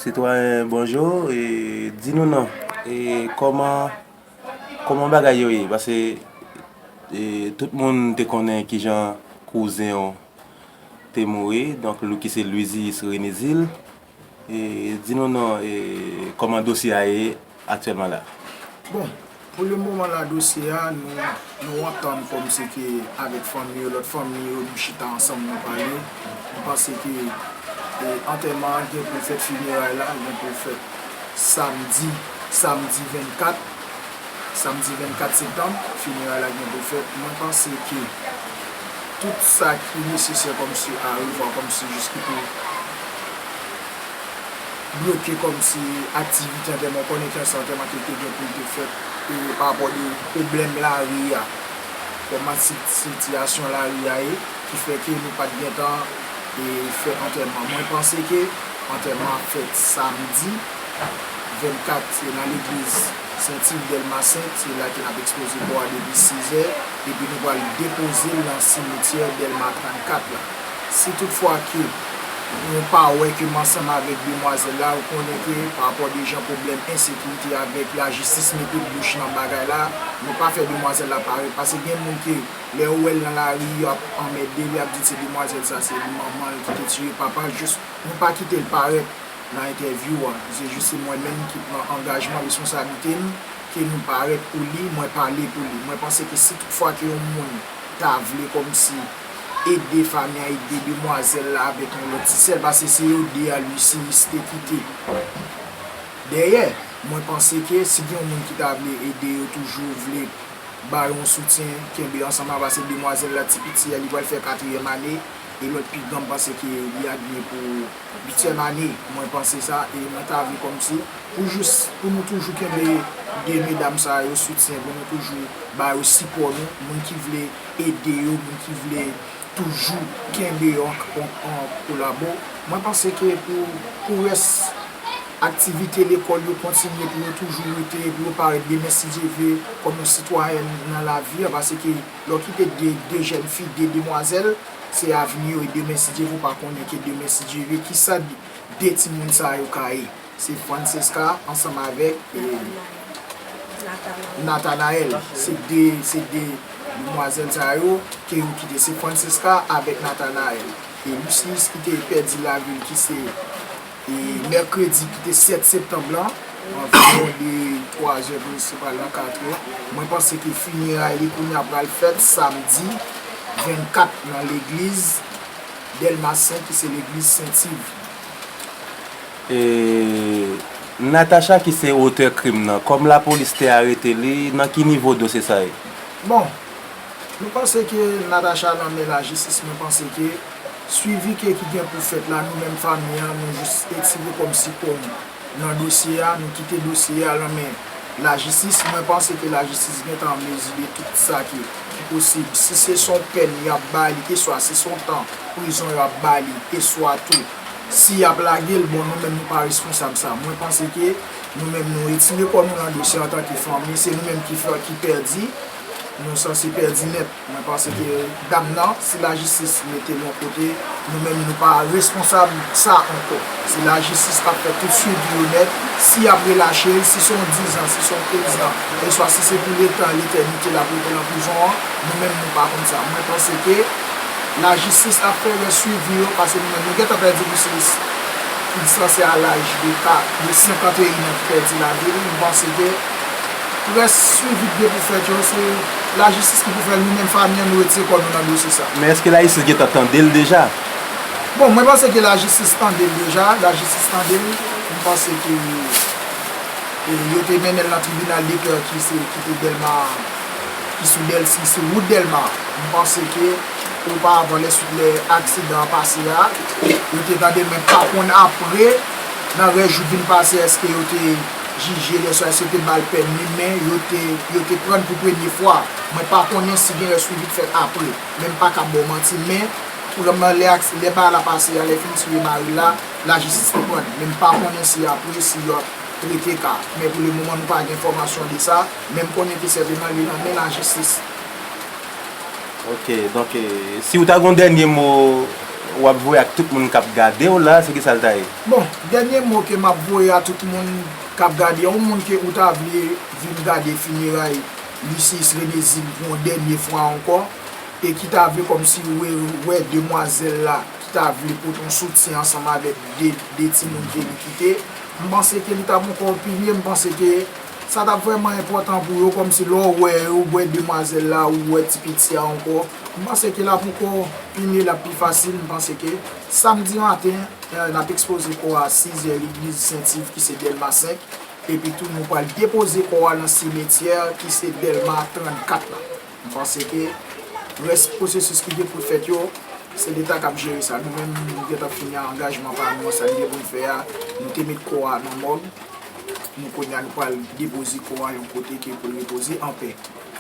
Sitwayen bonjou e di nou non e kòman kòman bagay yo ye pase e tout moun te konnen kijan kouzen w te mouri donk lou ki se Lwizyis Renizil e di nou non e kòman dosye a ye. aktyèlman la. Bon, pou le moman la dosye a nou nou antann kòm se ke avèk fanmi yo, lòt fanmi yo nou chita ansanm nou pale, nou panse ke antèman an gen pou fèt fineray la gen pou fèt samdi samdi 24 samdi 24 septanm fineray la gen pou fèt mwen panse ke tout sa ki nesesè kòm se arevwa kòm se jis ki pou bloke kòmsi aktivite an tèlman konnen kè sa tèlman ke te gen pou l te fèt pa rapò de pwoblèm lari a kòman sitiyasyon lari a ye ki fè ke nou pat gentan fè antèman mwen panse ke antèman ap fèt samdi 24 se nan legliz senti dèlma 5 se la ke nap ekspoze kò a depi 6 è epi nou pral depoze l nan simetyè dèlma 34 la. Si tout fwa ke ou pa wè ke m ansanm avèk demwazèl la, ou konnen ke pa rapò de jan pwoblèm ensekirite avèk lajistis mete bouch nan bagay la, nou pa fè demwazèl la parèt. Pase gen moun ke lè yo wè l nan lari, yo ap anmède l, y ap di l se demwazèl sa, se li manman l ki te tiye papa l. Jis nou pa kite l parèt nan entèvyou a. Se jis se mwen menm ki pran angajman, responsablite m ke nou parèt pou li, mwen pale pou li. Mwen panse ke si tout fwa ke yon moun ta vle kòmsi. ede Fania ede demwazèl la avèk yon lòt ti sèl pase se yo 2 a Lucius te kite dèyè mwen panse ke si gen yon moun ki ta vle ede yo toujou vle ba yo yon soutyen kenbe ansanm la pase demwazèl la ti piti a li pral fè katriyèm ane e lòt pi gran m panse ke li a gen pou uityèm ane mwen panse sa e mwen ta vle kòmsi pou jous pou nou toujou kenbe 2 medam sa yo soutyen pou nou toujou ba yo sipò nou moun ki vle ede yo moun ki vle toujou kenbe yo an kolabo mwen panse ke pou pou rès aktivite lekòl yo kontinye pou yo toujou rete pou yo parèt byen mèsidyevé kòm yon sitwayèn nan lavi a paske lè w kite de de jèn fi de demwazèl se avni yo e demen si Dye ve w pa konnen ke demen si Dye ve kisa de timoun sa yo ka ye. Se Francesca ansanm avèk Nathanaël se 2 se 2 demwazèl sa yo ke yo kite se Francesca avèk Nathanaël e Lucius ki te pèdi lavi l ki se mèkredi ki te 7 septanm lan anviwon de 3 zè pou rive pral nan 4 è mwen panse ke fineray li kounya pral fèt samdi 24 nan legliz Delmas 5 ki se legliz Sentiv. Eee Natacha ki se otè krim nan, kòm lapolis te arete li, nan ki nivo dosye sa ye? Bon, nou panse ke Natacha nan men lajistis, mwen panse ke swivi ke ki gen pou fèt la, nou menm fanmi an, nou jis etire kòm sikonn nan dosye a, nou kite dosye a nan men lajistis, mwen panse ke lajistis gen tan an mezi de tout sa ki posib, si se son pèn y ap ba li, eswa si son tan prizon y ap ba li, eswa tou. Si yap lagel bon nou menm nou pa responsab sa mwen panse ke nou menm nou retire kò nou nan dosye antanke fanmi se nou menm ki fè ki pèdi nou sanse pèdi nèt mwen panse ke dam nan si lajistis metel yon kote nou menm nou pa responsab sa ankò si lajistis pa fè tout swivi yo nèt si yap relachel si se yon 10 ans si se yon 15 ans eswa si se pou letan letènite lap rete nan prizon an nou menm nou pa konn sa mwen panse ke. Lajistis ap fè lè swivi yo pase nou menm nou gentan pèdi Loucius ki dispanse a laj de pa de 51 an ki pèdi lavi li nou panse ke rès swivi ki gen pou fèt yo se lajistis ki pou fèl nou menm fanmi an nou retire kò nou nan dosye sa. Men eske lajistis gentan tandel deja? Bon mwen panse ke lajistis tandel deja lajistis tandel m panse ke yo te mennenl nan tribinal de pè ki se ki te delma. ki sou dèl si sou wout dèlma m panse ke oparvan lè swit lè aksidan an pase a yo te tande men pa konn apre nan rès jou k vin pase èske yo te jije lè sa èske yo te ba l pèmi men yo te yo te pran l pou premye fwa mwen pa konnen si gen yon swivi k fèt apre men m pa ka ba w manti men pran nan lè aksi lè bagay la pase a lè fini souye mari l la lajistis te pran l men m pa konnen si apre si yo ap trete ka men pou le moman nou pa gen enfòmasyon de sa. Men m konnen ki sèvi mwen li nan men lajistis. Ok donk si ou ta gen yon dènye mo wap voye ak tout moun kap gadew la se kisa l ta ye? Bon dènye mo ke map voye a tout moun kap gade yon moun ke ou ta vle vin gade fineray Lysius Renezil pou yon dènye fwa ankò e ki ta vle kòmsi wè demwazèl la ki ta vle pote yon soutyen ansanm avèk 2 timoun ke li kite m panse ke li ta bon kòw pi mye m panse ke Sa tap vrèman enpòtan pou yo kòmsi lè w wè yo wè demwazèl la ou wè ti piti a ankò m panse ke lap ankò pi mye lap pi fasil m panse ke samdi maten nap ekspoze kò a 6 zè legliz sent iv ki se dèlma 5 epi tou nou pral depoze kò a nan simetyè ki se dèlma 34 la m panse ke rès pwosesis ki gen pou fèt yo se leta kap jere sa nou menm nou gentan fini angajman pa nou an sa n gen pou n fè a nou te met kò a nan mòg. Nou konya nou pral depoze kò a yon kote ke pou l repoze anpè.